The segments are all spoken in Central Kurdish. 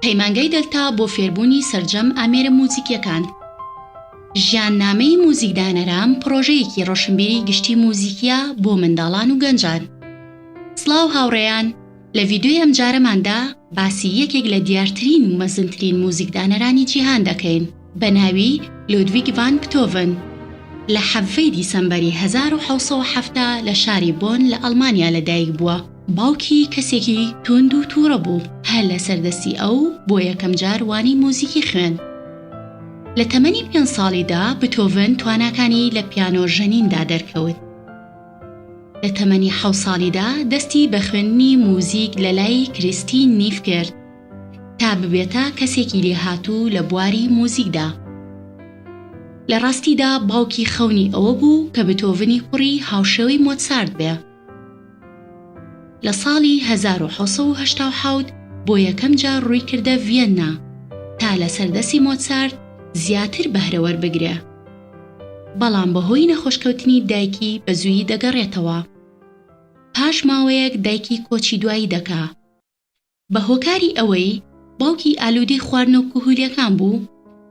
پەیمانگای دەلتا بۆ فێربوونی سەرجەم ئامێرە موزیکیەکان. ژیان نامەی موزیک دانەرام پڕۆژەیەکی ڕۆشنبیری گشتی موزیکیە بۆ منداڵان و گەنجان. سڵاو هاوڕێیان لە ڤیدیۆی ئەمجارەماندا باسی یەکێک لە دیارترین و مەزنترین موزیک دانەرانی جیهان دەکەین. بە ناوی لودویگ ڤان بتۆڤن لە حەڤەی دیسەمبەری هەزار و حەوت سەد و حەفتا لە شاری بۆن لە ئەڵمانیا لە دایک بووە. باوکی کەسێکی تووند و تووڕە بوو، هەر لەسەر دەستی ئەو بۆ یەکەم جار وانەی موزیکی خوێند. لە تەمەنی پێنج ساڵیدا بتۆڤن تواناکانی لە پیانۆ ژەنیندا دەرکەوت. لە تەمەنی حەوت ساڵیدا دەستی بە خوێندنی موزیک لە لای کریستین نیف کرد. تا ببێتە کەسێکی لێهاتوو لە بواری موزیکدا. لە ڕاستیدا باوکی خەونی ئەوە بوو کە بتۆڤنی کوڕی هاوشێوەی مۆتسارت بێ. لە ساڵی هەزار و حەوت سەد و هەشتا و حەوت بۆ یەکەم جار ڕووی کردە ڤیەننا تا لەسەر دەستی مۆتسارت زیاتر بەهرە وەربگرێ. بەڵام بە هۆی نەخۆشکەوتنی دایکی بە زوویی دەگەڕێتەوە. پاش ماوەیەک دایکی کۆچی دوایی دەکا. بە هۆکاری ئەوەی باوکی ئالوودەی خواردنە و کهولیەکان بوو،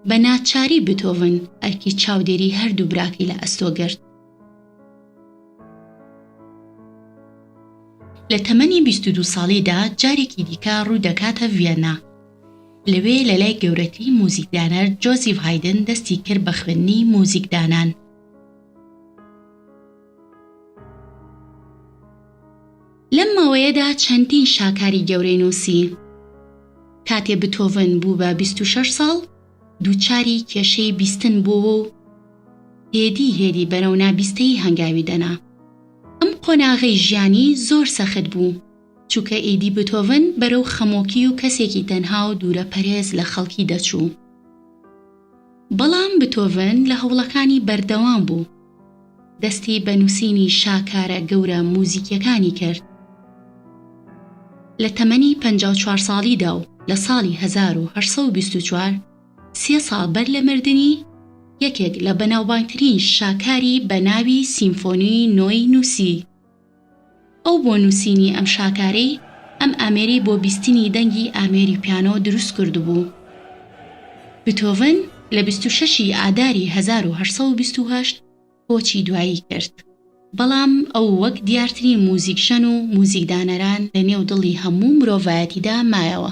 بە ناچاری بتۆڤن ئەرکی چاودێری هەردوو براکەی لە ئەستۆ گرت. لە تەمەنی بیست و دوو ساڵیدا جارێکی دیکە ڕوو دەکاتە ڤیەننا. لەوێ لە لای گەورەتری موزیکدانەر جۆزیف هایدن دەستی کرد بە خوێندنی موزیکدانان. لەم ماوەیەدا چەندین شاکاری گەورەی نووسی. کاتێ بتۆڤن بوو بە بیست و شەش ساڵ، دووچاری کێشەی بیستن بۆوە و هێدی هێدی بەرەو نابیستەیی هەنگاوی دەنا. ئەم قۆناغەی ژیانی زۆر سەخت بوو، چووکە ئیدی بتۆڤن بەرەو خەمۆکی و کەسێکی تەنها و دوورەپەرێز لە خەڵکی دەچوو. بەڵام بتۆڤن لە هەوڵەکانی بەردەوام بوو. دەستی بە نووسینی شاکارە گەورە موزیکیەکانی کرد. لە تەمەنی پەنجا و چوار ساڵیدا و لە ساڵی هەزار و هەشت سەد و بیست و چوار، سێ ساڵ بەر لە مردنی، یەکێک لە بەناوبانگترین شاکاری بە ناوی سیمفۆنیی نۆی نووسی. ئەو بۆ نووسینی ئەم شاکارەی ئەم ئامێرەی بۆ بیستنی دەنگی ئامێری پیانۆ دروست کردبوو. بتۆڤن لە بیست و شەش ی ئاداری هەزار و هەشت سەد و بیست و هەشت کۆچی دوایی کرد، بەڵام ئەو وەک دیارترین موزیکژەن و موزیکدانەران لە نێو دڵی هەموو مرۆڤایەتیدا مایەوە.